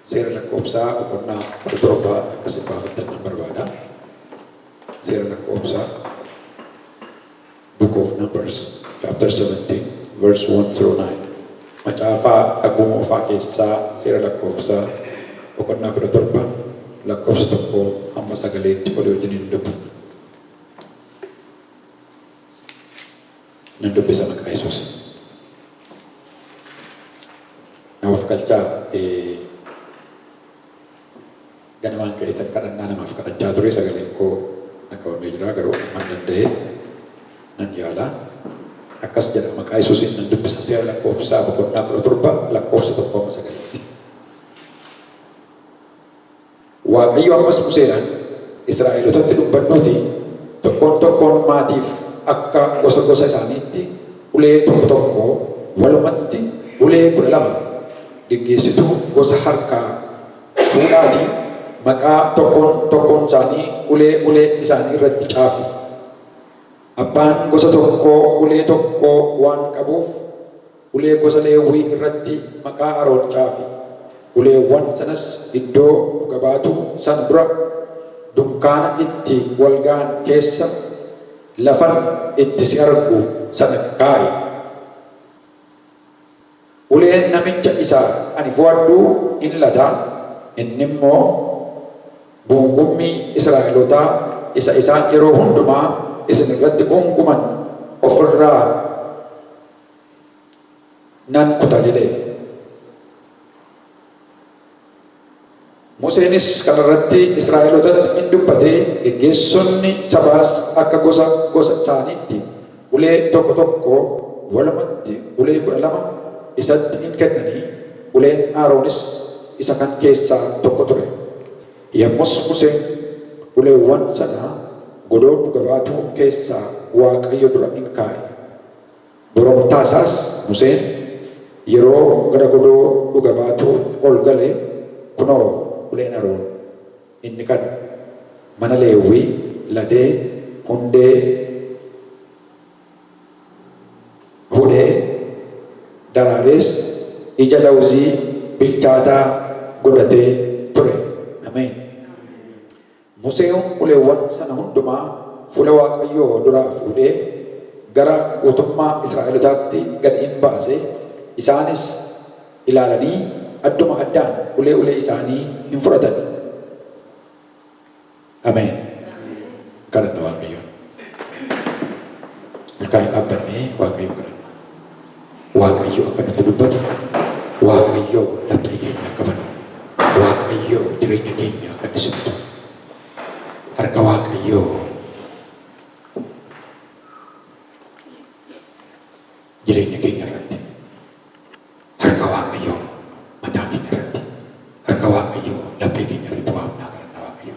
Seera lakkoofsaa boqonnaa kudha torba akka isin baafattan nan barbaada. Seera lakkoofsaa Book of Numbers chapter 17 verse 1 through 9 macaafaa kakuu moofaa keessaa seera lakkoofsaa boqonnaa kudha torba lakkoofsa tokko hamma sagaliitti walii wajjin hin dubbifna. Nan dubbisa maqaa Yesuusin. Na of galchaa eh, ganamaan ka'ee tan kadhannaa namaaf kadhachaa ture sagaleen koo na qabamee jira garuu amman danda'ee nan yaala. Akkas jedha maqaa Yesuusin nan dubbisa seera lakkoofsaa boqonnaa kudha torba lakkoofsa tokko amma sagalitti. Waaqayyo ammas Museedhaan, Israa'elotatti dubbadhuutii, Tokkoon tokkoon maatiif akka gosa gosa isaaniitti ulee tokko tokko, walumatti ulee 12 geggeessituu gosa harkaa fuudhaatii maqaa tokkoon tokkoon isaanii ulee ulee isaanii irratti caafi. Abbaan gosa tokkoo ulee tokko waan qabuuf, Ulee gosa Leewwii irratti maqaa Aroon caafi, uleewwan sanas iddoo Dhuga Baatuu sana dura dunkaana itti wal ga'an keessa lafan itti si argu sana kaa'i. Uleen namicha isa ani fo'adhuu in lata, inni immoo guungummii Israa'elootaa isa isaan yeroo hundumaa isin irratti guunguman of irraa nan kuta jedhe. Museenis kana irratti Israa'elotatti in dubbate, geggeessonni sabaas akka gosa gosa isaaniitti ulee tokko tokko, walumatti ulee kudha lama isatti in kennanii, uleen Aaroonis isa kan keessaa tokko ture. Yommus Museen uleewwan sana godoo dhuga baatuu keessaa Waaqayyo dura in kaa'e. Dura mataa isaas Museen yeroo gara godoo Dhuga Baatuu ol gale, kunoo, uleen Aroon inni kan mana Leewwii latee hundee hudhee daraarees ija lawuzii bilchaataa godhatee ture. Ameen! Museen uleewwan sana hundumaa fuula Waaqayyoo duraa fuudhee gara guutummaa Israa'elotaatti gad in baase, isaanis ilaalanii adduma addaan ulee ulee isaanii in fudhatan. Ameen! Kadhanna Waaqayyoon. Ol kaanee dhaabbannee Waaqayyoon kadhanna. Waaqayyo akka nutti dubbatu, Waaqayyo laphee keenya akka banu, Waaqayyo jireenya keenya akka inni simatu, harka Waaqayyoo jireenya keenya irratti, harka Waaqayyoo mataa keenya irratti, harka Waaqayyoo laphee keenya irratti waamnaa kadhanna Waaqayyo.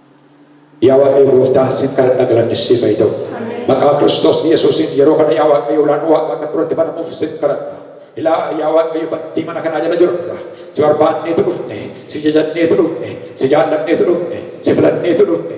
Yaa Waaqayyo gooftaa sin kadhadha galanni siif haa ta'u. Maqaa Kiristoos Yesuusiin yeroo kana yaa Waaqayyo ulaa'n waaqaa kan duratti banamuuf sin kadhadha. Ilaa yaa Waaqayyo bantii mana kanaa jala jirra. Si barbaanneetu dhufne, si jajadneetu dhufne, si jaallanneetu dhufne, si filanneetu dhufne.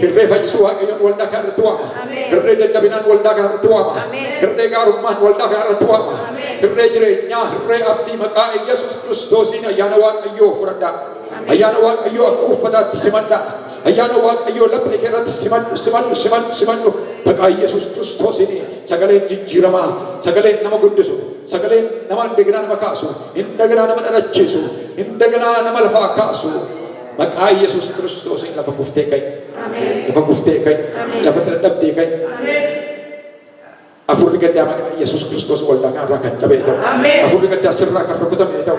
Hirree fayyisuu Waaqayyoon waldaa kana irratti waama. Hirree jajjabinaan waldaa kana irratti waama. Hirree gaarummaan waldaa kana irratti waama. Hirree jireenyaa, hirree abdii maqaa Yesuus Kiristoosiin ayyaana Waaqayyoo fudhadhaa. Ayyaana Waaqayyoo akka uffataatti simadhaa. Ayyaana Waaqayyoo laphee kee irratti simadhu, simadhu, simadhu, simadhu. Maqaa Yesuus Kiristoosiin sagaleen jijjiiramaa, sagaleen nama guddisu, sagaleen nama indaganaa nama kaasu, indaganaa nama dhalachiisu, indaganaa nama lafaa kaasu. Maqaa Yesuus Kiristoosiin lafa kuftee ka'i. Lafa kuftee ka'i. Lafa tira dhabdee ka'i. Afurri gaddaa maqaa Yesuus Kiristoos waldaa kanarraa kan cabee ta'u. Afurri gaddaa sirraa kan rukutamee ta'u.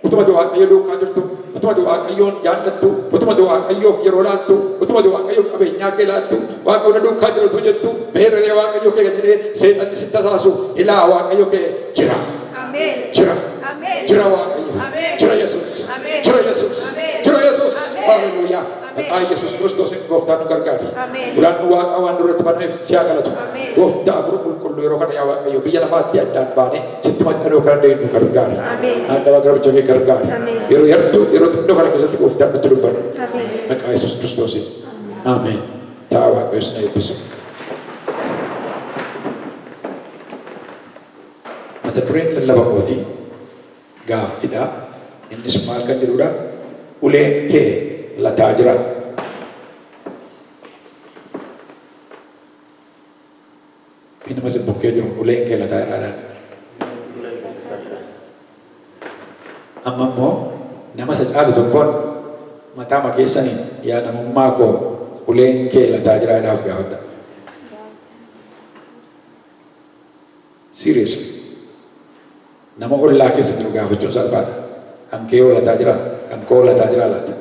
Utuma ati Waaqayyo duukaa jirtu, utuma ati Waaqayyoon jaallattu, utuma ati Waaqayyoof yeroo laattu, utuma ati Waaqayyoof qabeenyaa kee laattu, Waaqayyo na duukaa jira utuu jettu, meerree Waaqayyo kee kan jedhee seexanni si tasaasu, ilaa Waaqayyo kee jira. Jira. Jira Waaqayyo. Jira Yesuus. Jira Yesuus. Jira Yesuus. Haleluuyaa. Maqaa Yesuus Kiristoos gooftaan nu gargaari. Ulaan nu waaqaa waan duratti banameef si haa galatu. Gooftaa afur qulqulluu yeroo kana yaa Waaqayyo biyya lafaatti addaan baanee sitti maxxanuu kan dandeenyu nu gargaari. Haadha garbicha kee gargaari. Yeroo yartuu yeroo xinnoo kana keessatti gooftaan nutti dubbadhu. Maqaa Yesuus Kiristoosiin. Ameen. Ta'a Waaqayyo isin eebbisu. Mata dureen lallaba kootii gaaffi dha. Innis maal kan jedhuu dha? Uleen kee lataa jiraa? Mee nama isin bukkee jiruun uleen kee lataa jiraa jedhaa. Amma immoo nama isa caalu tokkoon mataama keessaniin yaa namummaa koo uleen kee lataa jiraa jedhaa of gaafadhaa. Seriously. Nama ollaa keessa jiru gaafachuun salphaadha. Kan kee hoo lataa jiraa? Kan koo hoo lataa jiraa laata?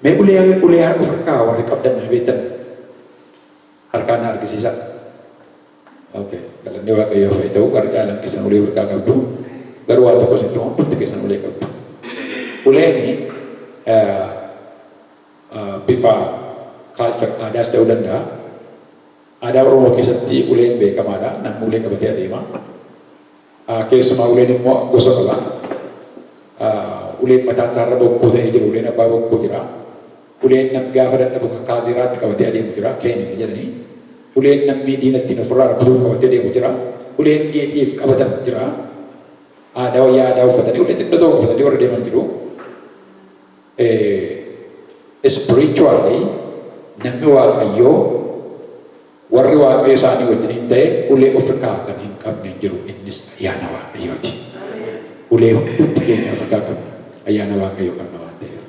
Mee ulee ulee haa of harkaa warri qabdan mee beektan harkaa na argisiisaa. Okay. Galanni Waaqayyoo fa'i ta'u warri caalan keessan ulee of harkaa qabdu. Garuu waa tokko isin ta'u hundumti keessan ulee qabdu. Uleen eh, bifa culture aadaas ta'uu danda'a. Aadaa Oromoo keessatti uleen beekamaadha. Namni ulee qabatee adeema. Keessumaa uleen immoo gosa qaba. Uleen mataan isaarra bokkuu ta'ee jiru, uleen abbaa bokkuu jira. Uleen namni gaafa dadhabu ka kaazeeraatti qabatee adeemu jira, keen inni jedhani. Uleen namni diina ittiin ofirraa rukutuuf qabatee deemu jira. Uleen geexiif qabatan jira. Aadaa wayyaa aadaa uffatanii ulee xiqqoo tokko qabatanii warri deeman jiru. Ee, spiritually namni Waaqayyoo, warri Waaqayyo isaanii wajjiniin ta'e ulee ofirkaa kan hin qabne hin jiru, innis ayyaana Waaqayyooti. Ulee hundumti keenya ofirkaa qabna, ayyaana Waaqayyoo qabna waan ta'eef.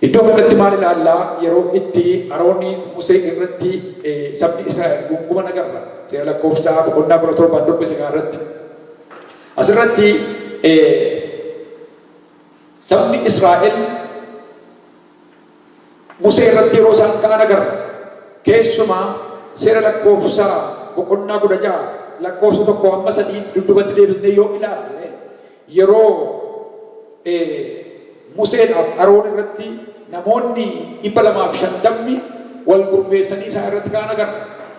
Iddoo kanatti maal ilaallaa? Yeroo itti Arooniif Musee irratti eh, sabni Israa'el guunguman agarra. Seera lakkoofsaa boqonnaa kudha torbaan dubbise kana irratti. Asirratti eh, Sabni Israa'el Musee irratti yeroo isaan ka'an agarra. Keessumaa seera lakkoofsa boqonnaa kudha ja'a lakkoofsa tokko amma sadii dudduubatti deebisnee yoo ilaalle yeroo Museedhaaf Aroon irratti namoonni dhibba lamaaf shantamni wal gurmeessanii isaa irratti ka'an agarra.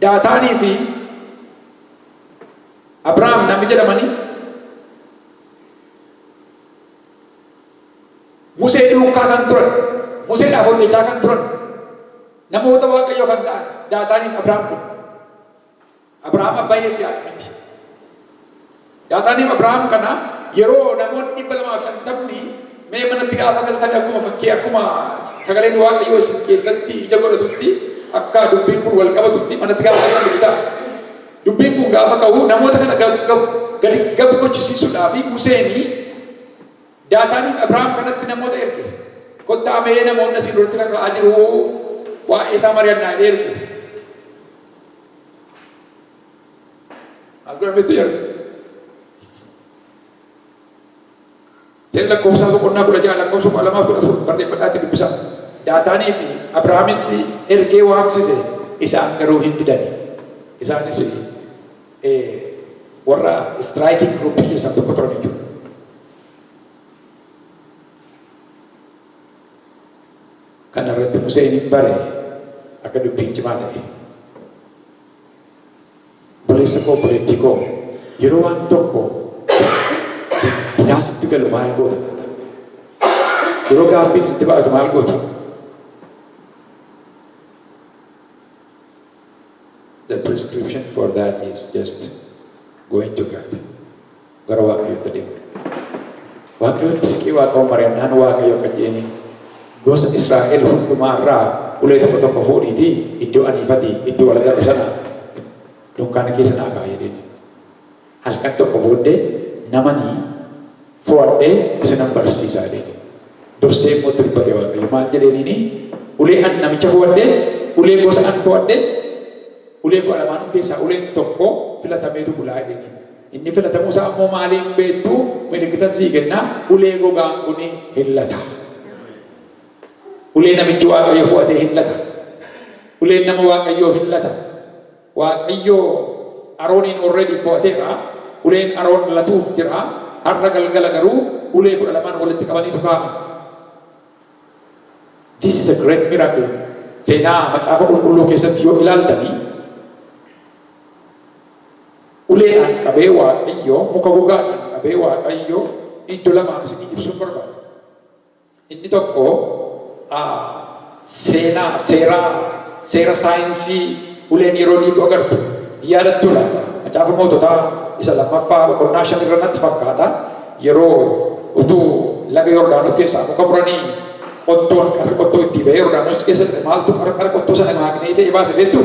Daataanii fi Abrahaam namni jedhamanii Musee duukaa kan turan, Museedhaaf hojjechaa kan turan, namoota Waaqayyoo kan ta'an Daataanii fi Abrahaam kun. Abrahaam abbaa Yisihaaq miti. Daataaniif Abrahaam kana yeroo namoonni 250 mee manatti gaafa galtan akkuma fakkii akkuma sagaleen waaqayyoo isin keessatti ija godhatutti akka dubbiin kun wal qabatutti manatti gaafa galtan dubbisaa. Dubbiin kun gaafa ka'u namoota kana gab gab gadi gab gochisiisuudhaa fi Museenii daataaniif Abrahaam kanatti namoota erge. Kottaa mee namoonni asii duratti kaka'aa jiru waa'ee isaa mari'annaa jedhee erge. Maal godhametu jedhu? Seera lakkoofsaa boqonnaa kudha ja'a lakkoofsa kudha lamaa fi kudha afur barreeffadhaatti dubbisaa. Daataanii fi Abrahaamitti ergee waamsise isaan garuu hin didani. Isaanis warra istiraayikiin giruuppii keessaa tokko turan jechuudha. Kana irratti Museen in bare akka dubbiin cimaa ta'e. Obboleessa koo, obboleettii koo, yeroo waan tokko bitaa sitti galu maal goota laata? Yeroo gaaffiin sitti baay'atu maal goota? The prescription for that is just going to God. gara Waaqayyootti adeemna. Waaqayyootti siqii Waaqaawwan mari'annaan Waaqayyo akka jeeni gosa Israa'el hundumaa irraa ulee tokko tokko fuudhiitii iddoo aniifati itti wal agarru sana dunkaana keessa naa kaa'a jedheeni. Halkan tokko booddee namanii fo'adhee isinan barsiisaa jedheeni. Dursee immoo itti dubbate Waaqayyo maal jedheeniini ulee an namicha fo'adhee ulee gosa an fo'adhee ulee kudha lamaanuu keessaa uleen tokko filatameetu bulaa jedheeni. Inni filatamuu isaa immoo maaliin beektu? Milikkitan sii kenna, ulee gogaan kun hir'lata. Ulee namichi Waaqayyo fo'ate hir'lata. Uleen nama Waaqayyoo hir'lata. Waaqayyo Arooniin already fo'ateera. Uleen Aroon latuuf jira. Har'a galgala garuu ulee kudha lamaan walitti qabaniitu kaa'an. This is a great miracle. Seenaa macaafa qulqulluu keessatti yoo ilaaltanii Uleedhaan qabee Waaqayyo, muka gogaadhaan qabee Waaqayyo iddo lama isinii ibsuun barbaada. Inni tokko a seenaa, seeraa, seera saayinsii uleen yeroo dhiigu agartu ni yaadattuu laata? Macaafa Moototaa isa lammaffaa boqonnaa shan irra natti fakkaata yeroo utuu laga Yordaanos keessaa muka muranii qottoon qarri qottoo ittii ba'ee Yordaanos keessa ture maaltu qarqara qottoo sana maagneetii ta'ee baase beektuu?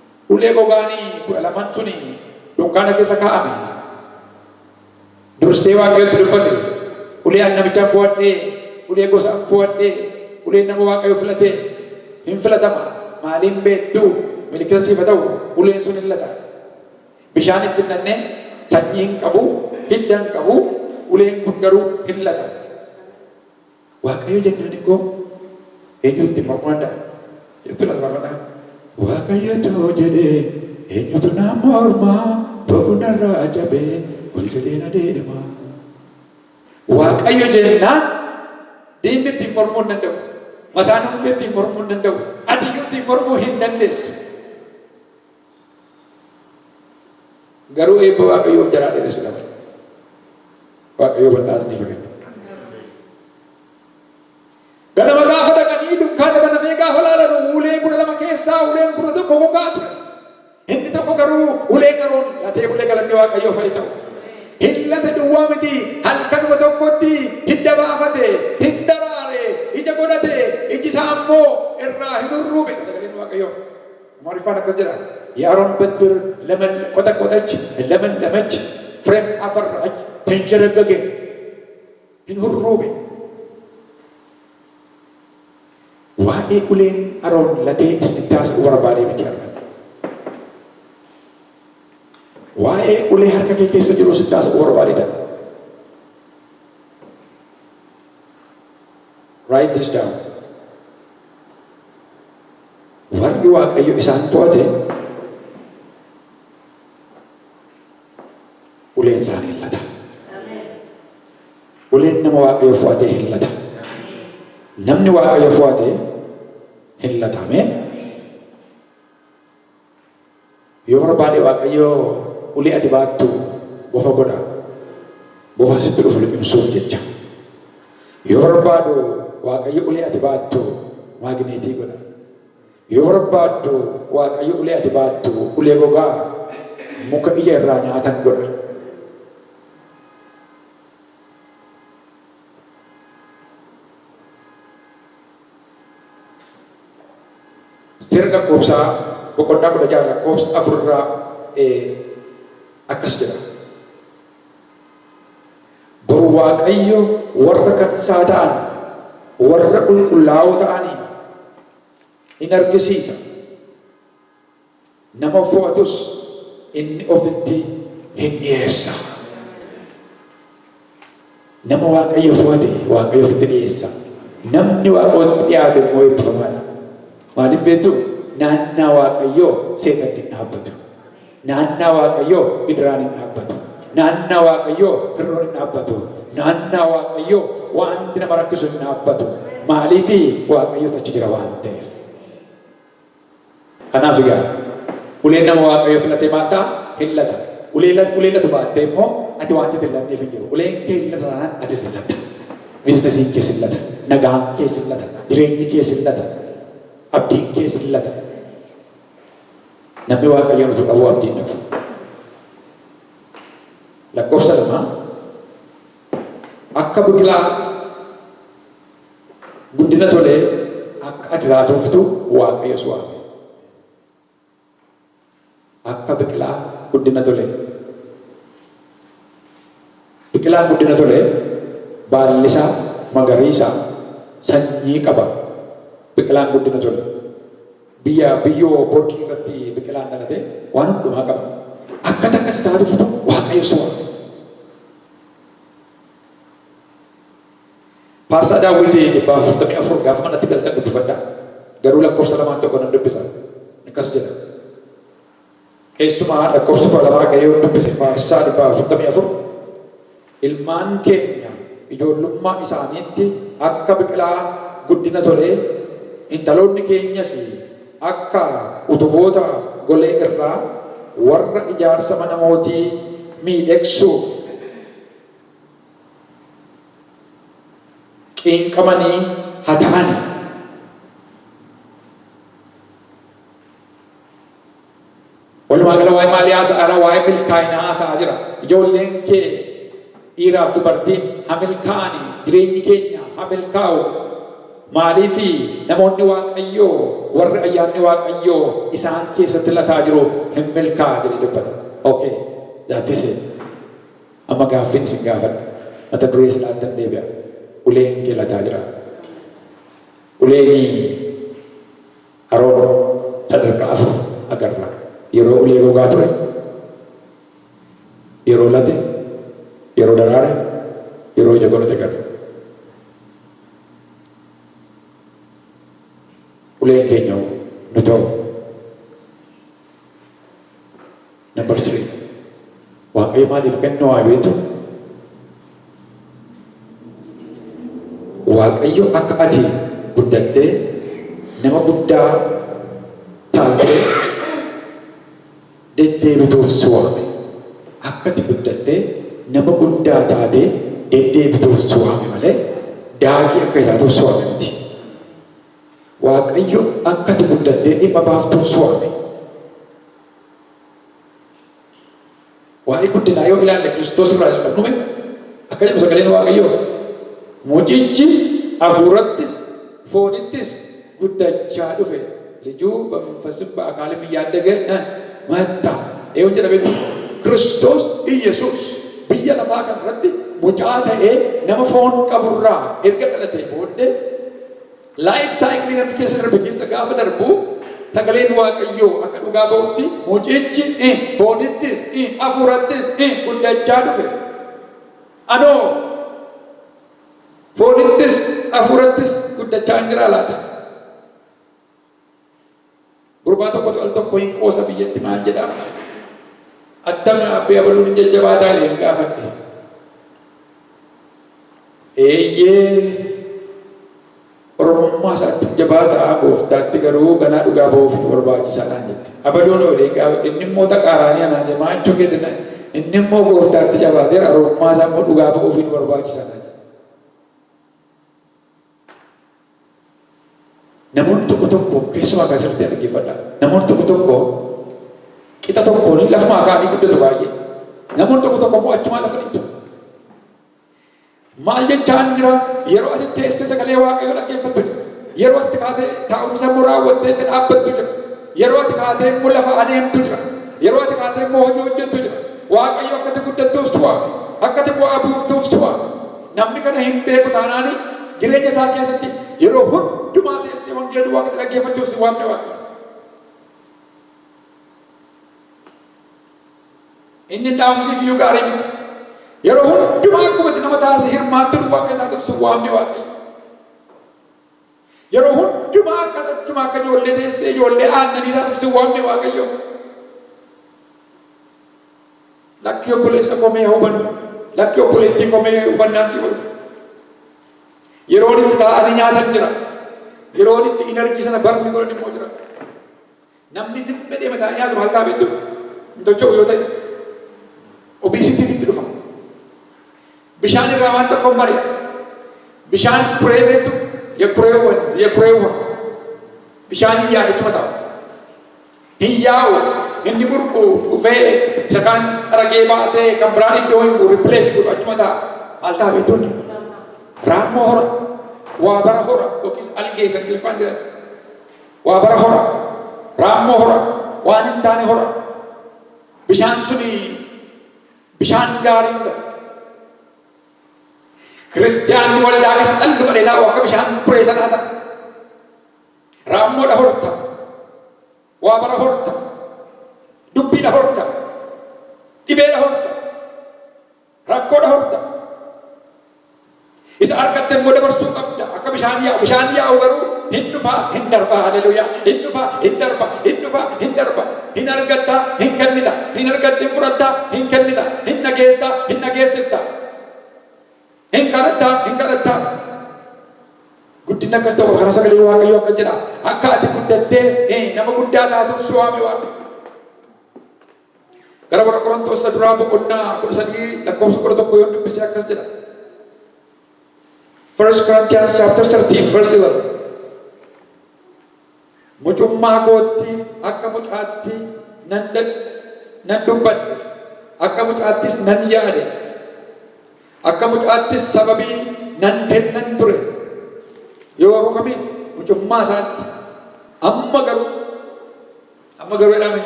Ulee gogaani kudha laman suni dunkaana keessa kaa'ame. Dursee Waaqayyotti dubbate, Ulee ani namichaan fo'adhe, ulee gosa an fo'adhe, uleen nama Waaqayyo filate hin filatama, maalii hin beektu, milikkita siif haa ta'u, uleen sun hin lata. Bishaan itti hin naqne, sanyii hin qabu, hidda hin qabu, uleen kun garuu hin lata. Waaqayyo jennani koo eenyutu ittiin mormuu danda'a? jettu laata farfannaan. Waaqayyotu jedhe eenyutu naan morma bob'u narraa cabe ol jedhee na deema. Waaqayyo jennaan diinni ittiin mormuu hin danda'u. Masaanuun kee ittiin mormuu hin danda'u. Atiyyuu ittiin mormuu hin dandeessu. Garuu eebba Waaqayyoo of jalaa dheeressu dhaban. Waaqayyoo bal'aa isiniif haa kennu. Ganama gaafa dhaqanii dukkaana banamee gaafa laalan ulee kudha lama keessaa uleen kudha tokko gogaa ture. Inni tokko garuu ulee qaruun latee bulee galanni Waaqayyoo fa'i ta'u. Hillate duwwaa miti halkanuma tokkotti hidda baafate, hin daraare, ija godhate, iji isaa immoo irraa hin hurruume. Sagaleen Waaqayyoo. Amaariffaan akkas jedha, Yaron Bettir Lemelle, qoxaqoxech, Lemenlemech, Frem Aferrach, Tenshereggege, hin hurruube. Waa'ee uleen Aroon latee isinitti haasa'uu barbaadee miti har'a. Waa'ee ulee harka kee keessa jiruu sitti haasa'uu barbaadee ta'a. Write this down. Warri Waaqayyo isaan fo'ate uleen isaanii hin lata. Uleen nama Waaqayyo fo'ate hin lata. Namni Waaqayyo fo'ate hin lata. Ameen. Yoo barbaade Waaqayyo ulee ati baattu bofa godha. Bofa sitti dhufu liqimsuuf jecha. Yoo barbaadu Waaqayyo ulee ati baattu maagineetii godha. Yoo barbaaddu Waaqayyo ulee ati baattu ulee gogaa muka ija irraa nyaatan godha. Seera Lakkoobsaa boqonnaa 16 lakkoobsa 4 irraa akkas jedha. Boru Waaqayyo warra kan isaa ta'an, warra qulqullaa'oo ta'aniin in argisiisa. Nama fo'atus inni ofitti hin dhiyeessa. Nama Waaqayyo fo'ate Waaqayyo ofitti dhiyeessa. Namni Waaqayyotti dhiyaate immoo eebbifamaadha. Maaliif beektu? Naannaa Waaqayyoo seexanni hin dhaabbatu. Naannaa Waaqayyoo gidiraan hin dhaabbatu. Naannaa Waaqayyoo hir'oon hin dhaabbatu. Naannaa Waaqayyoo wanti nama rakkisu hin dhaabbatu. Maaliif Waaqayyotu achi jira waan ta'eef. Kanaaf egaa, uleen nama Waaqayyo filatee maal ta'a? Hin lata. Ulee lat, ulee latu baattee immoo ati waanti ati hin latneef hin jiru. Uleen kee hin lata taanaan atis hin latta. Biiznasiin kees hin lata. Nagaan kees hin lata. Jireenyi kees hin lata. Abdiin kees hin lata. Namni Waaqayyoon utuu dhabuu abdii hin dhabu. Lakkoofsa lama akka biqilaa Guddina tolee akka ati raatooftu Waaqayyo si waame. Akka biqilaa guddina tolee. Biqilaan guddina tolee baallisaa magariisa sanyii qaba. Biqilaan guddina tole biyya biyyoo borqii irratti biqilaan dhalate waan hundumaa qaba. Akka takka si taatuftu Waaqayyo si waame. Faarsaa daawwiti 144 gaafa manatti galtan dubbifadha. Garuu lakkoofsa lamaan tokko nan dubbisa. Akkas jedha. Keessumaa lakkoofsa kudha lamaa ka'ee yoon dubbise faarsaa 144 ilmaan keenya ijoollummaa isaaniitti akka biqilaa guddina tolee intaloonni keenyas akka utuboota golee irraa warra ijaarsa mana mootii miidhegsuuf qeenqamanii ha ta'ani. Walumaa gala waa'ee maalii haasa'aara? Waa'ee milkaa'inaa haasa'aa jira. Ijoolleen kee dhiiraaf dubartiin ha milkaa'ani, jireenyi keenya ha milkaa'u. Maaliifi namoonni Waaqayyoo warri ayyaanni Waaqayyoo isaan keessatti lataa jiru hin milkaa'a jedhee dubbata. Okay, that is it. Amma gaaffiin isin gaafadhu mata duree sanaattan deebi'a. Uleen kee lataa jira. Uleeni Aroon sadarkaa afur agarra. Yeroo ulee gogaa ture, yeroo late, yeroo daraare, yeroo ija godhate agarra. Uleen keenya hoo? Nuti hoo? Number three, Waaqayyo maaliif kennuu haa beektu? Waaqayyo akka ati guddattee nama guddaa taatee deddeebituuf si waame. Akka ati guddattee nama guddaa taatee deddeebituuf si waame malee daakii akka taatuuf si waame miti. Waaqayyo akka ati guddattee dhimma baaftuuf si waame. Waa'ee guddinaa yoo ilaalle Kiristoos irraa jalqabnume akka jedhu sagaleen Waaqayyoo mucichi hafuurattis foonittis guddachaa dhufe lijuu bamanfasim ba'akaalim yaaddaga matta eeyoon jedhametti Kiristoos Iyyasuus biyya lafaa kan irratti mucaa ta'ee nama foon qaburraa erga dhalatee booddee Life cycle namticha sirna rabbi keessa gaafa darbu sagaleen waaqayyoo akka dhugaa ba'utti mucichi i foonittis i afuurattis i guddachaa dhufe. Anoo foonittis afuurattis guddachaa hin jiraa laata? Gurbaa tokkotu al tokko hin qoosa biyyatti maal jedha attam abbee abaluun hin jajjabaataa leen gaafadhe. Eeyyee oromummaa isaatti hin jabaataa gooftaatti garuu ganaa dhugaa ba'uuf nu barbaachisaa naan jedhe. Abaluun hoo leen gaafadhe inni immoo taqaaraanii anaan jedhe maa jechuu keetina inni immoo gooftaatti jabaateera oromummaa isaa immoo dhugaa ba'uuf nu barbaachisaa naan jedhe. Namoonni tokko tokko keessumaa kaa sirriitti na dhaggeeffadha. Namoonni tokko tokko qixa tokkoon lafumaa ka'anii guddatu baay'ee. Namoonni tokko tokko immoo achumaa lafa dhiitu. Maal jechaan jira yeroo ati teessee sagalee waaqayyoo dhaggeeffattu jira. Yeroo ati kaatee taa'umsa immoo raawwattee itti dhaabbattu jira. Yeroo ati kaatee immoo lafa adeemtu jira. Yeroo ati kaatee immoo hojii hojjettu jira. Waaqayyo akkati guddattuuf si waame. Akkati bu'aa buuftuuf si waame. Namni kana hin beeku taanaan jireenya isaa keessatti yeroo hundumaa teessee wangeela duwwaa akkatti dhaggeeffachuuf si waamne waan ta'eef. Inni dhaamsiif iyyuu gaarii miti. Yeroo hundumaa akkuma itti nama taasise hirmaattuu duwwaa akka taatuuf si waamne waan ta'eef. Yeroo hundumaa akka tattuma akka ijoollee teessee ijoollee aannanii taatuuf sin waamne Waaqayyo. Lakkii obboleessa koo mee hubannu. Lakkii obboleettii koo mee hubannaan si godhuuf. Yeroon itti taa'anii nyaatan jira. Yeroon itti inarjii sana barni godhan immoo jira. Namni tiruu fedheema taa'ee nyaatu maal ta'a beektuu? Hin tocho'u yoo ta'e. Obesity-tti itti dhufa. Bishaan irraa waan tokko hin bari'a. Bishaan kuree beektu? Ye kuree wanzi, ye kuree uha. Bishaan hin yaadu achuma taa'u. Hin yaa'u, inni burqu dhufee isa kaan ragee baasee kan biraan iddoo hin bu'u replace godhu achuma taa'a. Maal ta'a beektuu inni? Raammoo hora, waa bara hora yookiis algee isa Ingiliffaan jedhan. Waa bara hora, raammoo hora, waan hin taane hora. Bishaan suni bishaan gaarii hin ta'u. Kiristiyaanni waldaa keessa dhalli badhee taa'u akka bishaan turee sanaa ta'a. Raammoodha horta. Waa bara horta. Dubbiidha horta. Dhibeedha horta. Rakkoodha horta. Isa argatte immoo dabarsuu qabda. Akka bishaan yaa'u. Bishaan yaa'u garuu hin dhufaa hin darbaa. Haleluyaa. Hin dhufaa hin darba. Hin dhufaa hin darba. Hin argattaa hin kennita. Hin argatte hin fudhattaa hin kennita. Hin dhageessaa hin dhageessifta. Hin kadhattaa hin kadhattaa. Guddinni akkas ta'u kana sagalee Waaqayyoo akkas jedha. Akka ati guddattee eh, nama guddaa taatuuf si waame Waaqayyo. Gara warra Qorontoos isa duraa boqonnaa 13 lakkoofsa 11 yoon dubbise akkas jedha. 1 Corinthians chapter 13 verse 11. Mucummaa kootti akka mucaatti nan dad- nan dubbadhe, akka mucaattis nan yaade, akka mucaattis sababii nan kennan ture. Yoo rukame mucummaa isaatti amma garuu Amma garuu jedhame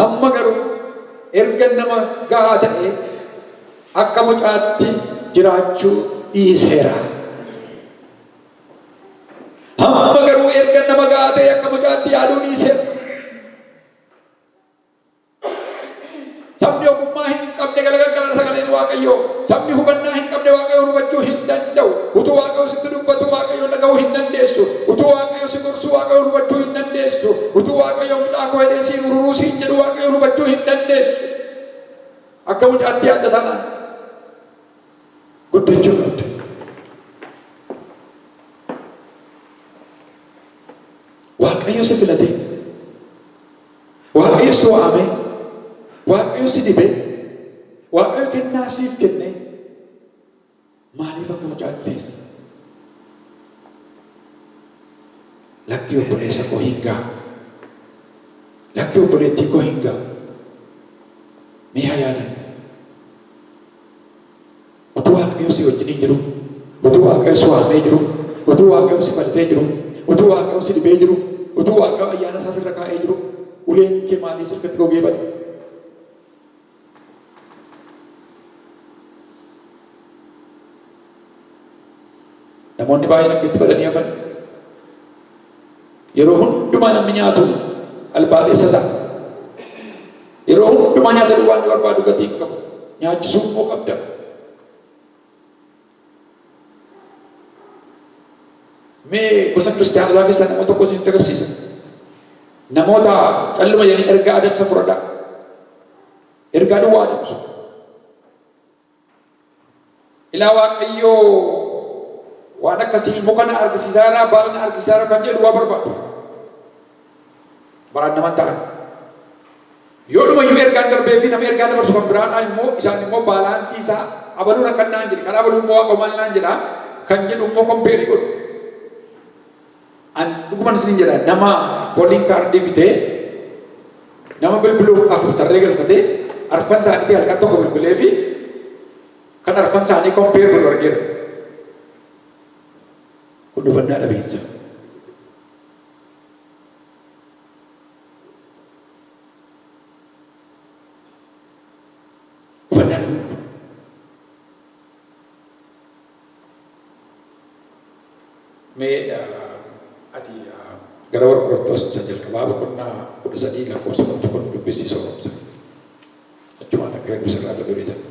amma garuu ergan nama gahaa ta'ee akka mucaatti jiraachuu dhiiseera. Amma garuu ergan nama gahaa ta'ee akka mucaatti yaaduu dhiiseera. Sabni ogummaa hin qabne galagaggala sagaleen Waaqayyoo. Sabni hubannaa hin qabne Waaqayyoon hubachuu hin danda'u. Utuu Waaqayyo sitti dubbatu Waaqayyoon dhaga'uu hin dandeessu. Utuu Waaqayyo si gorsu Waaqayyoon hubachuu hin dandeessu. Utuu Waaqayyo mucaa koo jedhee siin ururuu siin jedhu Waaqayyoon hubachuu hin dandeessu. Akka mucaatti yaadda taanaan guddachuu qabda. Waaqayyo si filatee Waaqayyo si waame, Waaqayyo si dibe, Waaqayyo kennaa siif kenne maaliif akka mucaatti teessa? Lakki obboleessa koo hin ga'a. Lakki obboleettii koo hin ga'a. Mee haa yaadannu. Utuu Waaqayyo si wajjiniin jiruu, utuu Waaqayyo si waamee jiruu, utuu Waaqayyo si falatee jiruu, utuu Waaqayyo si dibee jiruu, utuu Waaqayyo ayyaana isaa sirra kaa'ee jiruu, uleen kee maaliif sirkatti gogee bade? Namoonni baay'een akka itti badanii hafan. Yeroo hundumaa namni nyaatu albaadhessa ta'a. Yeroo hundumaa nyaata duwwaa inni barbaadu gatii hin qabu. Nyaachisuu immoo qabda. Mee gosa kiristaanaa keessaa nama tokko isinitti agarsiisa. Namoota calluma jedhanii ergaa adamsa fudhadhaa. Ergaa duwwaa adamsu. Ilaa Waaqayyo waan akkasii muka na argisiisaa irraa baala na argisiisaa irra kan jedhu waa barbaadu. Baraan naman ta'an. Yoo dhuma iyyuu ergaan darbee fi nama ergaa dabarsu kan biraadhaan immoo isaan immoo baalaansii isaa abaluu rakkan naan jedhe kan abaluu immoo waaqa maal naan jedha kan jedhu immoo kompeerii godhu. An dhuguman isinin jedha nama calling card bitee nama bilbiluuf afur tarree galfatee arfan isaanitii halkan tokko bilbileefi kan arfan isaanii compare godhu argeera. Kun hubannaa dhabiinsa. Hubannaa dhabiinsa. Mee ati gara warra Qorontoos isa jalqabaa boqonnaa 13 lakkoofsa 11 dubbisii sooromsa. Achumaan akka hedduu sirraa dabalee jedha.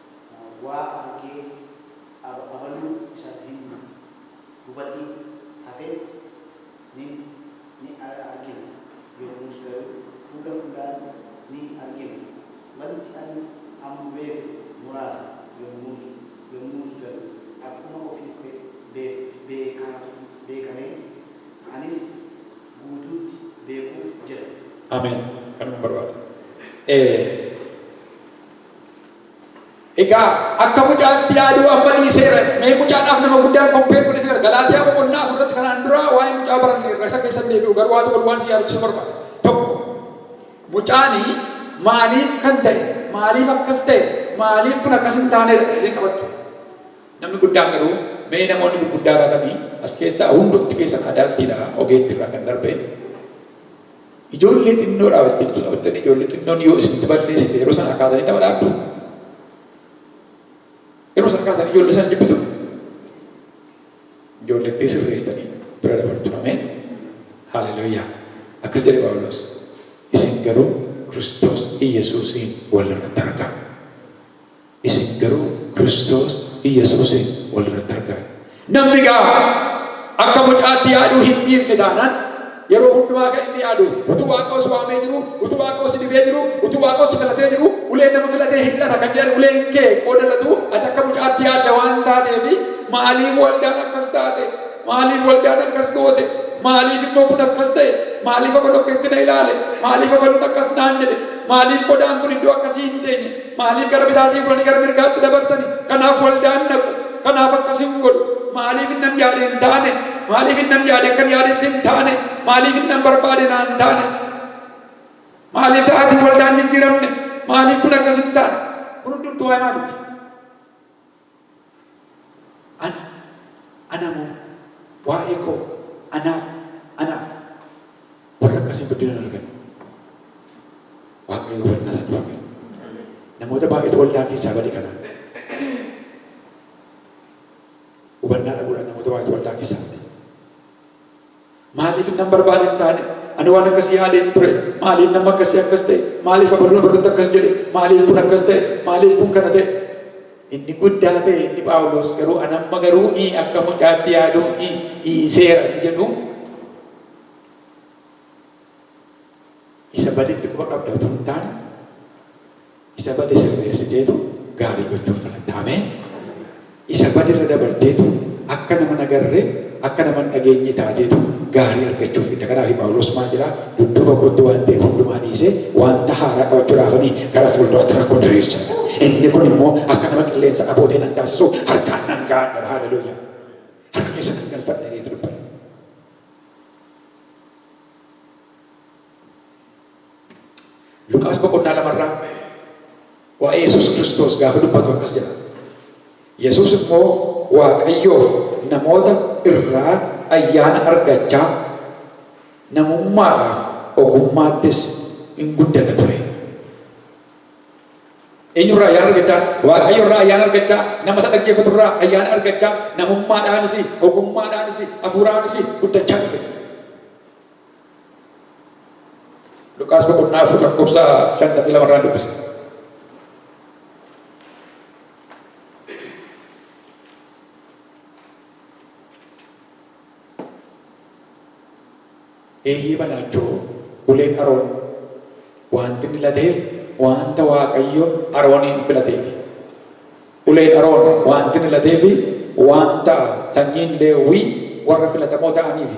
waa argee aba abaluu isan hin hubatiin hafe nin ni argina yommus garuu fuula fuulaan ni argina wanti ani amma beeku muraasa yommus yommus garuu akkuma ofii ko beekaatu beekamee anis guutuutti beekuuf jira. Ameen kanuman barbaada ee. Egaa akka mucaatti yaaduu amma dhiiseera. Mee mucaadhaaf nama guddaan compare godhee jira. Galaatiyaa boqonnaa afur irratti kanaan dura waa'ee mucaa baranne irra isa keessa hin deebi'u garuu waan tokko waan si yaadachiisu barbaada. Tokko mucaani maaliif kan ta'e maaliif akkas ta'e maaliif kun akkas hin taanedha isheen qabattu. Namni guddaan garuu mee namoonni gurguddaa taatanii as keessaa hundumti keessan adaaltiidha ogeetti irraa kan darbe Ijoollee xinnoodhaa hojjechuu taphattan ijoollee xinnoon yoo isinitti balleessite yeroo sanaa kaasanii tapha dhaabdu? Yeroo sana kaasanii ijoollee sana jibbitu? Ijoollettee sirreessitanii bira dabartu. Ameen. Haaleluyyaa. Akkas jedhe Phaawulos. Isin garuu Kiristoos Iyyasuusiin walirratti argaa. isin garuu Kiristoos Iyyasuusiin wal irratti argaadha. Namni egaa akka mucaatti yaaduu hin dhiifne taanaan, yeroo hundumaa kan inni yaadu, utuu Waaqoo si waamee jiruu, utuu Waaqoo si dibee jiruu, utuu Waaqoo si filatee jiruu, uleen nama filatee hin lata kan jedhan uleen kee qooda latuu ati akka mucaatti yaadda waan taateefi, maaliif waldaan akkas taate? Maaliif waldaan akkas goote? Maaliif immoo kun akkas ta'e? Maaliif abaloo akkasitti na ilaale? Maaliif abaluun akkas naan jedhe? Maaliif qodaan kun iddoo akkasii hin teenye? Maaliif gara bitaatii furanii gara mirgaatti dabarsani? Kanaaf waldaan dhaqu. Kanaaf akkas hin godhu. Maaliif innan yaade hin taane? Maaliif innan yaade akkan yaadetti hin taane? Maaliif innan barbaade naan taane? Maaliif sa'aatiin waldaan jijjiiramne? Maaliif kun akkas hin taane? Kun hundumtuu waa'ee maaliiti? An, ana moo, waa'ee koo, anaaf, anaaf. Warri akkasii guddina hin argan. Waaqayyo hubannaa isaa nuuf haa kennu. Namoota baay'eetu waldaa keessaa bade kanaan. Hubannaa dhabuudhaan namoota baay'eetu waldaa keessaa bade. Maaliif nan barbaade hin taane? Ani waan akkasii yaadee hin ture. Maaliif namni akkasii akkas ta'e? Maaliif abaluun abaluutti akkas jedhe? Maaliif kun akkas ta'e? Maaliif kun kana ta'e? Inni guddaa ta'e inni Phaawulos garuu an amma garuu i akka mucaatti yaaduu i dhiiseera inni jedhu Isa badetti quba qabda utuu hin taane isa bade sirreessiteetu gaarii gochuu filatta. Ameen! Isa bade irra dabarteetu akka nama hin agarre, akka nama hin dhageenyee taateetu gaarii argachuuf fidda. Kanaafi Phaawulos maal jedhaa? Dudduuba kootti waan ta'e hundumaa dhiisee wanta haaraa qabachuudhaafani gara fuulduraatti rakkoo diriirsa. Inni kun immoo akka nama qilleensa abootee nan taasisuu harkaan nan ga'adha jedha. Haaleluyyaa! Harka keessa nan galfadha jedheetu dubbata. Luqaas boqonnaa lama irraa waa'ee Yesuus Kiristoos gaafa dubbatu akkas jedha. Yesuus immoo Waaqayyoof namoota irraa ayyaana argachaa namummaadhaaf ogummaattis in guddata ture. Eenyurraa ayyaana argachaa? Waaqayyo irraa ayyaana argachaa, nama isa dhaggeeffatu irraa ayyaana argachaa, namummaadhaanis, ogummaadhaanis, hafuuraanis guddachaa dhufe. Luqaas boqonnaa 4 lakkoofsa 52 irraan dubbisa. Eeyyee banaachoo uleen Aroon wanti inni lateef wanta Waaqayyo Arooniin filateef. Uleen Aroon wanti inni lateef wanta sanyiin Leewwii warra filatamoo ta'aniifi.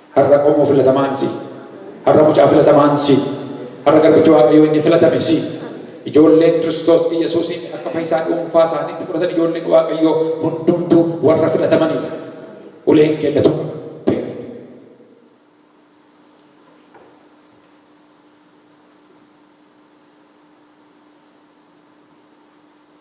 Har'a qomoo filatamaan si. Har'a mucaa filatamaan si. Har'a garbicha Waaqayyoo inni filatame si. Ijoolleen Kiristoos Iyyasuusiin akka fayyisaa dhuunfaa isaaniitti fudhatan ijoolleen Waaqayyoo hundumtuu warra filatamaniidha. Uleen keenya tun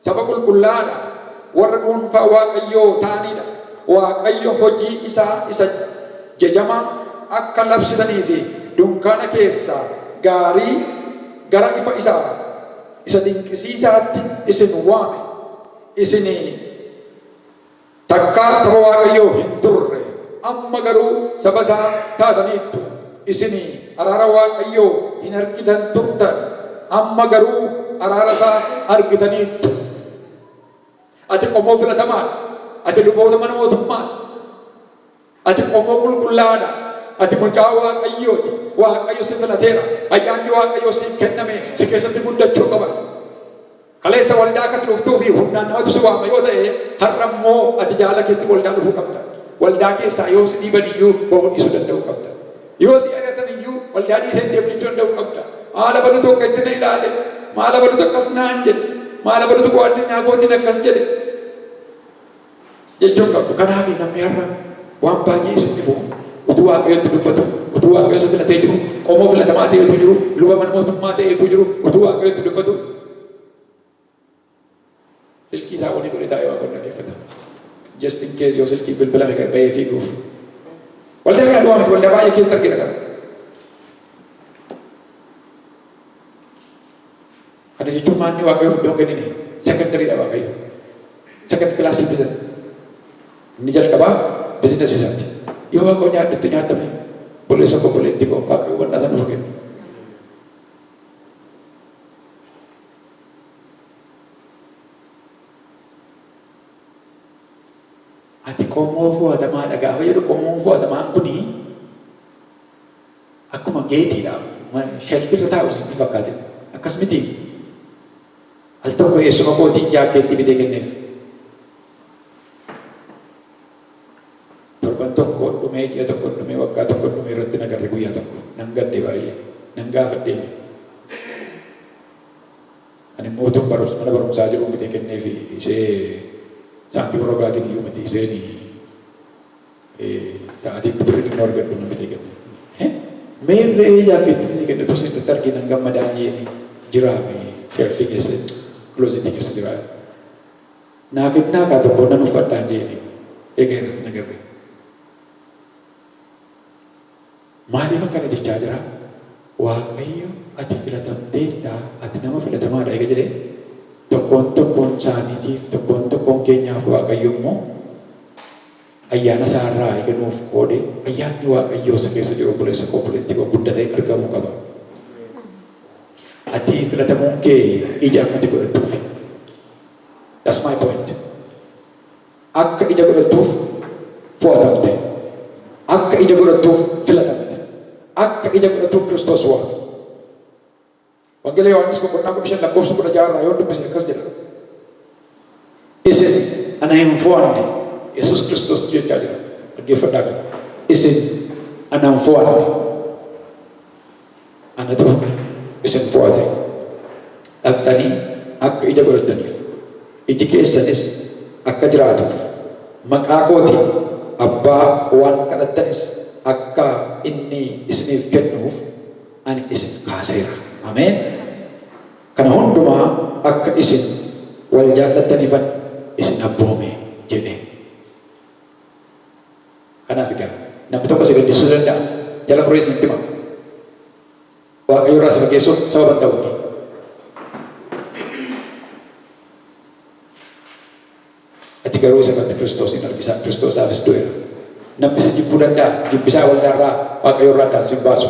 Saba qulqullaa'aa dha, warra dhuunfaa Waaqayyoo ta'anii dha, Waaqayyo hojii isaa isa jajamaa akka labsitanii fi dunkaana keessaa gaarii gara ifa isaa isa dinqisiisaatti isin waame, isinii. Takkaa saba Waaqayyoo hin turre, amma garuu saba isaa taataniittu. Isin araara Waaqayyoo hin argitan turtan, amma garuu araara isaa argitaniittu. Ati qomoo filatamaa dha, ati luboota mana mootummaa ti. Ati qomoo qulqullaa'aa dha. Ati mucaa Waaqayyoo ti. Waaqayyo si filateera. Ayyaanni Waaqayyoo siif kenname si keessatti guddachuu qaba. Kaleessa waldaa akka ati dhuftuu fi humnaan namatu si waama yoo ta'e, har'a immoo ati jaalala keetti waldaa dhufuu qabda. Waldaa keessaa yoo si dhiiban iyyuu ba'uu dhiisuu danda'uu qabda. Yoo si ari'atan iyyuu waldaa dhiisee hin deemin jechuu danda'uu qabda. Maal abalutu akkasitti na ilaale? Maal abalutu akkas naan jedhe? Maal abalutu koo addunyaa kootiin akkas jedhe? Jecha hin qabdu. Kanaafi namni har'a waan baay'ee isin dhibu utuu Waaqayyo itti dubbatu, utuu Waaqayyo isa filatee jiru, qomoo filatamaa ta'ee utuu jiru, luba mana mootummaa ta'ee utuu jiru, utuu Waaqayyo itti dubbatu silkii isaa onii godhee taa'ee Waaqayyoon dhaggeeffata. Just in case yoo silkiin bilbilame ka'e bahee fiiguuf. Waldaa kana du'aa miti waldaa baay'ee keessatti argina kana. Kana jechuun maal inni Waaqayyoof iddoo hin kennine? Secondary dha Waaqayyo. Second class citizen. Inni jalqabaa business isaati. Yoo Waaqayyo nyaadhu itti nyaatame obboleessa koo obboleettii koo Waaqayyo hubannaa sana nuuf kenna. Ati qomoo fo'atamaadha gaafa jedhu qomoon fo'atamaan kuni Akkuma geetiidhaaf shelf irra taa'u sitti fakkaate? Akkas mitii? Al tokko eessuma kootiin jaakkeettii bitee kenneef. Torban tokko dhumee, ji'a tokko dhumee, waggaa tokko dhumee irratti na garre guyyaa tokko. Nan gadde baay'ee. Nan gaafadhe iyyuu. Ani immoo utuun barumsa mana barumsaa jiruun bitee kenneefi isee saantima rogaatiin iyyuu miti iseen Egaa ati itti birri xinnoo argadhu na bite gammee. He! Meen re'ee jaakkeettii sii kenne utuu siin dhufte argee nan gammadaa jeeni jiraa mee. Shelfii keessa closet keessa jiraa naa kennaa kaa tokko nan uffadhaa jeeni egaa irratti na gammee. Maaliif akkana jechaa jiraa? Waaqayyo ati filatamteetta ati nama filatamaa dha ega jedhee tokkoon tokkoon isaaniitiif tokkoon tokkoon keenyaaf Waaqayyo immoo, Ayyaana isaa irraa eega nuuf qoode ayyaanni waaqayyoo si keessa jiru obboleessa koo obboleettii koo guddatee argamuu qaba. Ati filatamuun kee ija akka ati godhattuuf. That's my point. Akka ija godhattuuf fo'atamte. Akka ija godhattuuf filatamte. Akka ija godhattuuf Kiristoos waame. Wangeela Yohaannis boqonnaa 15 lakkoofsa 16 irraa yoon dubbise akkas jedha. Isin ana hin fo'anne, Yesuus Kiristoos jechaa jira. Dhaggeeffadhaa kana. Isin ana hin fo'anne, anatu isin fo'ate. Dhaqxanii akka ija godhattaniif, iji keessanis akka jiraatuuf, maqaa kootiin Abbaa waan kadhattanis akka inni isiniif kennuuf, ani isin kaaseera. Ameen! Kana hundumaa akka isin wal jaallattaniifan isin abboome jedhe. Kanaaf egaa namni tokko si gaddisiisuu danda'a. Jala muree isinitti hima. Waaqayyo irraa si fageessuuf sababa hin ta'u inni. Ati garuu isa irratti Kiristoos in argisa, Kiristoos isaafis du'eera. Namni si jibbuu danda'a, jibbi isaa waldaa irraa, Waaqayyo irraa addaan sin baasu.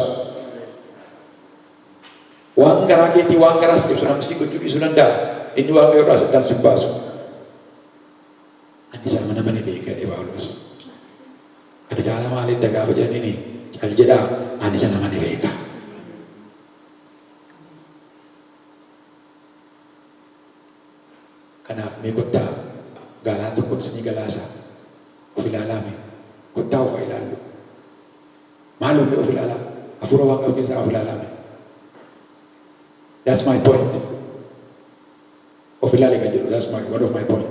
Waan garaa keetii, waan garaa si cabsu namni si gochuu dhiisuu danda'a, inni Waaqayyo irraas addaan sin baasu. Ani isa amanamaa ni beeka jedhe Phaawulos. Kana caalaa maal edda gaafa jedhaniini cal jedhaa ani isa nama ni beeka. Kanaaf mee kottaa gaalaa tokkon isni galaasaa of ilaalaa mee kottaa of ha ilaalluu maaloo mee of ilaalaa hafuura waaqaa keessaa of ilaalaa mee that's my point of ilaali kan jedhu that's my one of my point.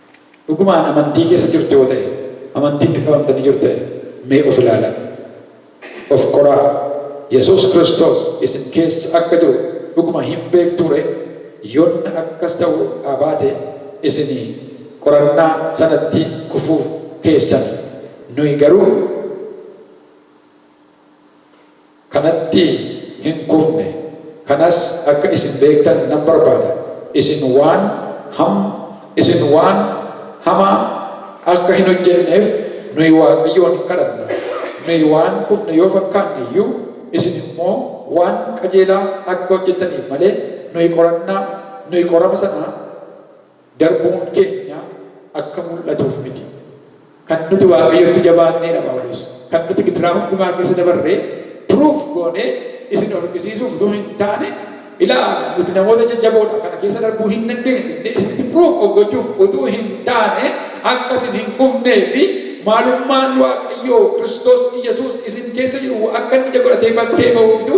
Dhugumaan amantii keessa jirtu yoo ta'e, amantiitti qabamtanii jirtu ta'e, mee of ilaalaa. Of qoraa. Yesuus Kiristoos isin keessa akka jiru dhuguma hin beektuu ree? Yonna akkas ta'uu dhaa baate, isin qorannaa sanatti kufuu keessani. Nuyi garuu. kanatti hin kufne, kanas akka isin beektan nan barbaada, isin waan ham, isin waan hamaa akka hin hojjenneef nuyi Waaqayyoon in kadhanna, nuyi waan kufne yoo fakkaanne iyyuu, isin immoo waan qajeelaa akka hojjettaniif malee, nuyi qorannaa, nuyi qorama sana, darbuun keenya akka mul'atuuf miti. Kan nuti Waaqayyotti jabaannee dha Phaawulos. Kan nuti gidiraa hundumaa keessa dabarre proof goonee isin argisiisuuf utuu hin taane, ilaa nuti namoota jajjaboo dha, kana keessa darbuu hin dandeenyu jennee isinitti proof of gochuuf utuu hin taane, akka isin hin kufnee fi maalummaan Waaqayyoo Kiristoos Iyyasuus isin keessa jiru akka inni ija godhatee bakkee ba'uufitu.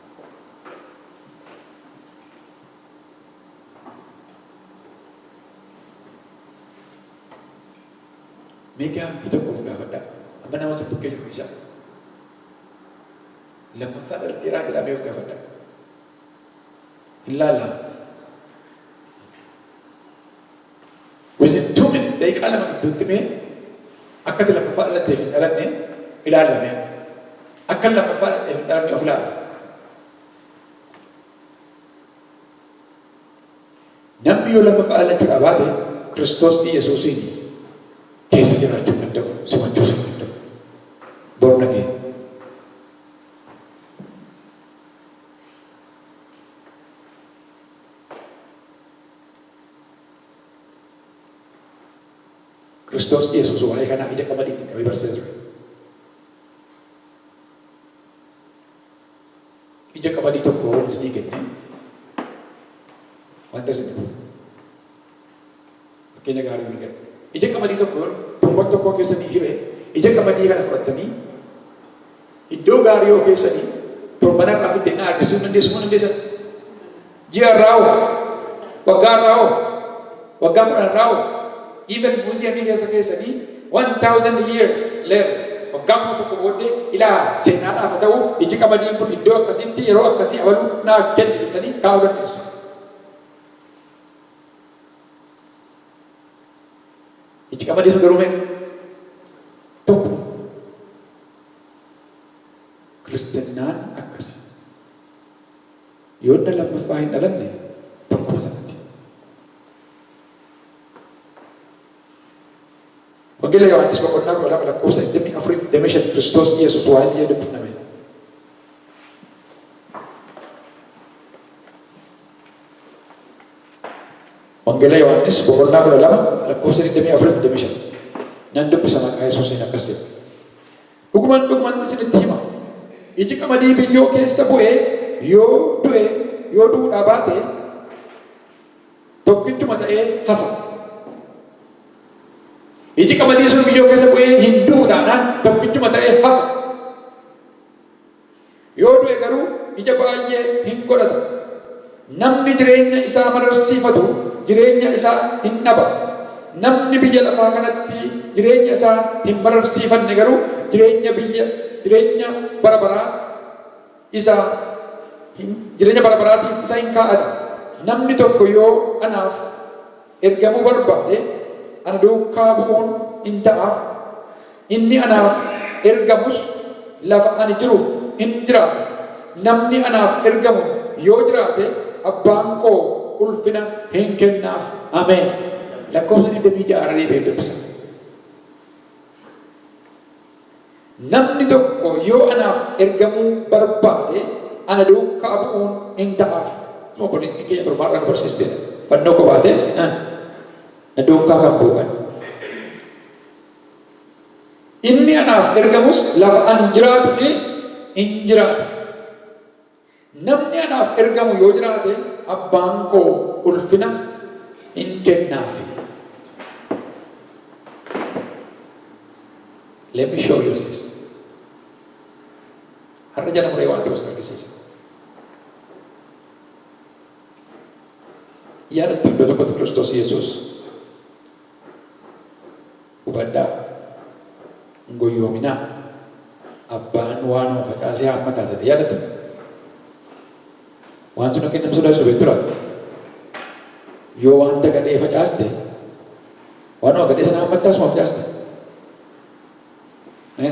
Mee gaaffii tokko of gaafadhaa. Amma nama sin bukkee jiru dhiisaa. Lammaffaa dheeraa jedhaa mee of gaafadhaa. Hin laallaa. Within two minute daqiiqaa lama gidduutti mee akka ati lammaffaa dhalatteef hin dhalanne ilaalla mee amma. Akkan lammaffaa dhaladheef hin dhalanne of ilaala. Namni yoo lammaffaa dhalachuudhaa baate Kiristoos Iyyasuusiin keessa jiraachuu hin danda'u, simachuus hin danda'u. Born again. Kiristoos Yesuus waa'ee kanaa ija qamadiitiin qabee barsiisa ture. Ija qamadii tokko wal isinii kenne wanta isin dhufu. Fakkeenya gaarii hin kennu. Ija qamadii tokko tokko tokko keessanii hiree ija qamadii kana fudhattanii Iddoo gaarii hoo keessanii torban har'aa fiddee na argisiisuu hin dandeessu moo hin dandeessan? Ji'a har'aa hoo? Waggaa har'aa hoo? Waggaa kudhan har'aa hoo? Even muuziyamii keessa keessanii 1000 years later waggaa kuma tokko booddee ilaa seenaadhaaf haa ta'u iji qamadiin kun iddoo akkasiitti yeroo akkasii abaluu naaf kenne jettanii kaa'uu dandeessu. Itti qamadii sun garuu meeqa? Tokko. Kiristinnaan akkasi. Yoo inni lammaffaa hin dhalanne tokkuma sanatti. Wangeela Yohaannis boqonnaa kudha lama lakkoofsa digdamii afurii fi digdamii shan Kiristoos Yesuus waa inni jedhu dubbifna mee. Wangeela Yohaannis boqonnaa 12 lakkoofsa 24 fi 25 nan dubbisa maqaa Yesuusiin akkas jedha. Dhuguman dhuguman isinitti hima. Iji qamadii biyyoo keessa bu'ee yoo du'e yoo du'uudhaa baate tokkichuma ta'ee hafa. Iji qamadii sun biyyoo keessa bu'ee hin du'u taanaan tokkichuma ta'ee hafa. Yoo du'e garuu ija baay'ee hin godhata. Namni jireenya isaa mararsiifatu jireenya isaa hin dhaba. Namni biyya lafaa kanatti jireenya isaa hin mararsiifanne garuu jireenya biyya jireenya bara baraa isa hin jireenya bara baraatiif isa hin kaa'ata. Namni tokko yoo anaaf. ergamuu barbaade, ana duukaa bu'uun in ta'aaf, inni anaaf ergamus lafa ani jiru in jiraata, namni anaaf ergamu yoo jiraate abbaan koo ulfina in kennaaf. Ameen. Lakkoofsa 26 irra deebi'een dubbisa. Namni tokko yoo anaaf ergamuu barbaade, ana duukkaa bu'uun in ta'aaf. Akkuma obboleettiin keenya torban irraa nu barsiiste, fannoo koo baatee na duukkaa kan bu'u kan. Inni anaaf ergamus lafa an jiraatu in jiraata. Namni anaaf ergamu yoo jiraate, Abbaan koo ulfina in kennaaf. Let me show you this. Har'a jala muree waan ta'u sin argisiisa. Yaadattu iddoo tokkotti Kiristoos Yesuus Hubadhaa! Hin goyyoominaa! Abbaan waan homa facaase haammata as jedhe. Yaadattu? Waan sun akka inni nama sodaachisu beektu laata? Yoo wanta gadhee facaaste, waanuma gadhee sana haammattaa asuma facaasta? Ee.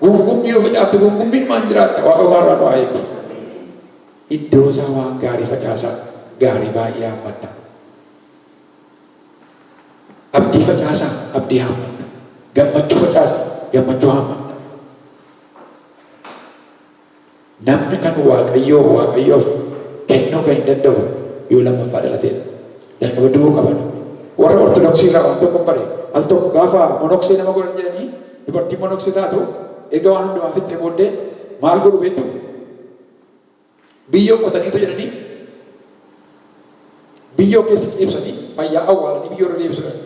Guungummii yoo facaafte guungummiidhumaan jiraatta. Waaqa gaarraa nu haa eebbu. Iddoo isaa waan gaarii facaasaa. Gaarii baay'ee haammatta. Abdii facaasaa. Abdii haammatta. Gammachuu facaasi. Gammachuu haammatta. Namni kan Waaqayyoo Waaqayyoof kennuu kan hin danda'u yoo lammaffaa dhalateedha. Jalqaba du'uu qaba namni. Warra Ortodoksii irraa waan tokkon bare. Al tokko gaafa monoksee nama godhan jedhanii dubartiin monoksee taatu erga waan hundumaa fixxee booddee maal godhu beektuu? Biyyoo qotaniitu jedhanii biyyoo keessa ciibsanii fayyaa awwaalanii biyyoo irra deebisu jedhan.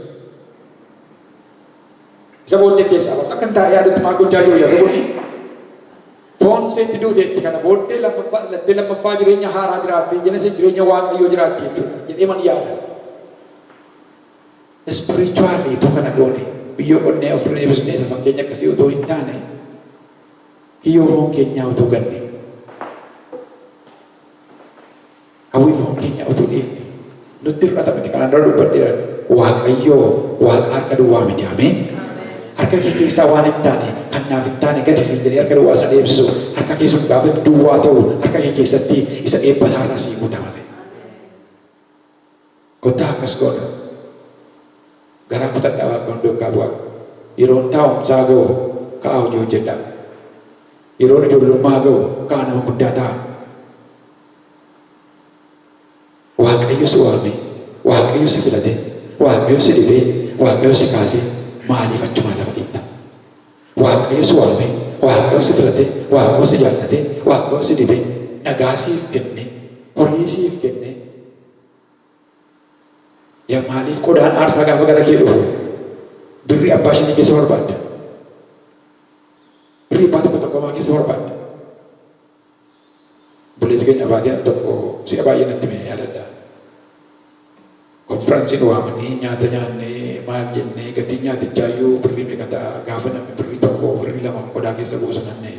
Isa booddee keessaa baasa. Akka hin taane yaadutti maal gochaa jiru jarri kuni? Foon isheetti duuteetti kana booddee lammaffaa dhalattee lammaffaa jireenya haaraa jiraattee jenese jireenya waaqayyoo jiraatti jechuudha jedhee man yaada. Spiritually utuu kana goone biyyoo qonnee ofirra deebisnee isa fakkeenya akkasii utuu hin taane kiyyoo foon keenyaa utuu ganne. Hawwii foon keenyaa utuu dhiifne nutti hir'ata miti kanaan dura dubbadheeran. Waaqayyoo waaqa harka duwwaa miti ameen. Harka kee keessaa waan hin taane kan naaf hin taane gati siin jedhee harka duwwaa isa deebisu harka kee sun gaafa inni duwwaa ta'u harka kee keessatti isa eebba isaarraa sii guuta malee. Kottaa akkas goona garaa kutadhaa waaqoon duukkaa bu'aa yeroon taa'umsaa ga'u ka'aa hojii hojjedhaa yeroon ijoollummaa ga'u ka'aa nama guddaa ta'aa waaqayyo si waamee waaqayyo si filatee waaqayyo si dhibee waaqayyo si kaasee maaliif achumaa lafa dhiitta waaqayyo si waamee waaqayyo si filatee waaqayyo si jaallatee waaqayyo si dhibee nagaa siif kennee horii siif kennee Yaa maaliif qodaan aarsaa gaafa gara kee dhufu birrii abbaa shanii keessa barbaadda? Birrii abbaa tokko tokkomaa keessa barbaadda? Obboleessi keenya abbaatii al tokko si'a baay'ee natti mee yaadadha. Konfiransiin waamanii nyaata nyaannee maal jennee gatiin nyaatichaa iyyuu birrii meeqa ta'a gaafa namni birrii tokko birrii lama qodaa keessa buusu nanna'e.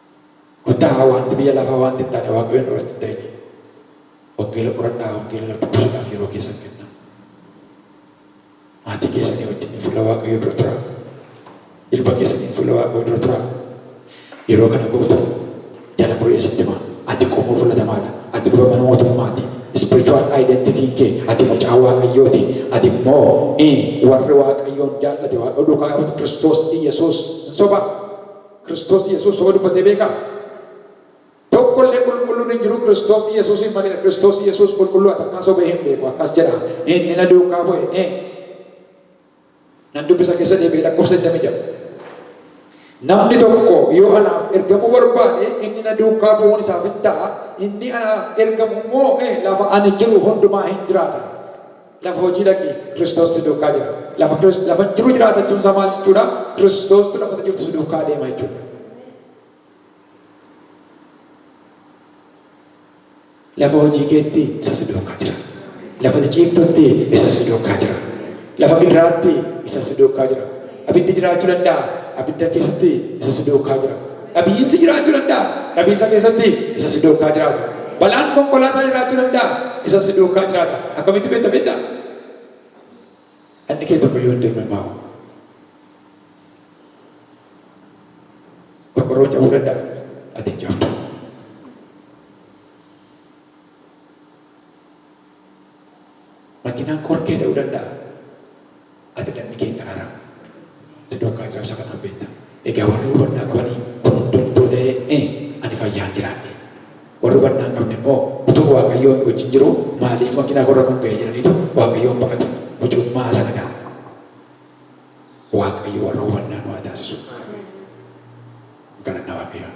Kottaa waanti biyya lafaa waanti hin taane Waaqayyoon duratti hin ta'inii. Wangeela qoradhaa wangeela irra dubbisuudhaaf yeroo keessan kennaa. Maatii keessanii wajjin fuula Waaqayyoo dura turaa. Ilma keessaniin fuula Waaqayyoo dura turaa. Yeroo kana gootee jala muree sitti himaa. Ati qomoo filatamaadha. Ati luba mana mootummaati. Spiritual identity kee ati mucaa Waaqayyooti. Ati immoo eh, warri Waaqayyoon jaallate Waaqayyo duukaa yaafatu Kiristoos Iyyasuus hin sobaa? Kiristoos Yesuus soma dubbatee beekaa? Tokko illee qulqulluun hin jiru Kiristoos Yesuusiin malee Kiristoos Yesuus qulqulluu atakkaa sobee hin beeku akkas jedha inni na duukaa bu'e ee nan dubbisa keessa deebi'ee lakkoofsa 26 namni tokko yoo anaaf ergamuu barbaade inni na duukaa bu'uun isaaf hin ta'a inni anaaf ergamu immoo ee lafa ani jiru hundumaa hin jiraata Lafa hojii dhaqi, Kiristoos si duukaa jira. Lafa Kiris- lafa jiru jiraata jechuun isaa maal jechuudha? Kiristoostu lafa ati jirtu si duukaa adeema jechuudha. Lafa hojii keetti isa si duukaa jira. Lafa ati ciiftutti isa si duukaa jira. Lafa gidiraatti isa si duukaa jira. Abiddi jiraachuu danda'a. Abidda keessatti isa si duukaa jira. Dhabiinsi jiraachuu danda'a. Dhabiinsa keessatti isa si duukkaa jiraata. Balaan konkolaataa jiraachuu danda'a. Isa si duukkaa jiraata. Akkamitti beekta beektaa? Dhalli kee tokko yoo hin deemne maa hoo? Qorqorroon cabuu danda'a. Ati hin cabdu. Makiinaan qorkee ta'uu danda'a. Ati namni kee hin daraaramu. Si duukaa jira ibsa kanaan beekta. Egaa warri hubannaa qabanii kun hundumtuu ta'ee e ani fayyaan jiraadhe. Warri hubannaa hin qabne immoo utuun Waaqayyoon wajjin jiruu maaliif makiinaa koorra kun ga'e jedhaniitu Waaqayyoon baqatu. Mucummaa haa sanadaa. Waaqayyo warra hubannaa nu haa taasisu. Galanna Waaqayyoon.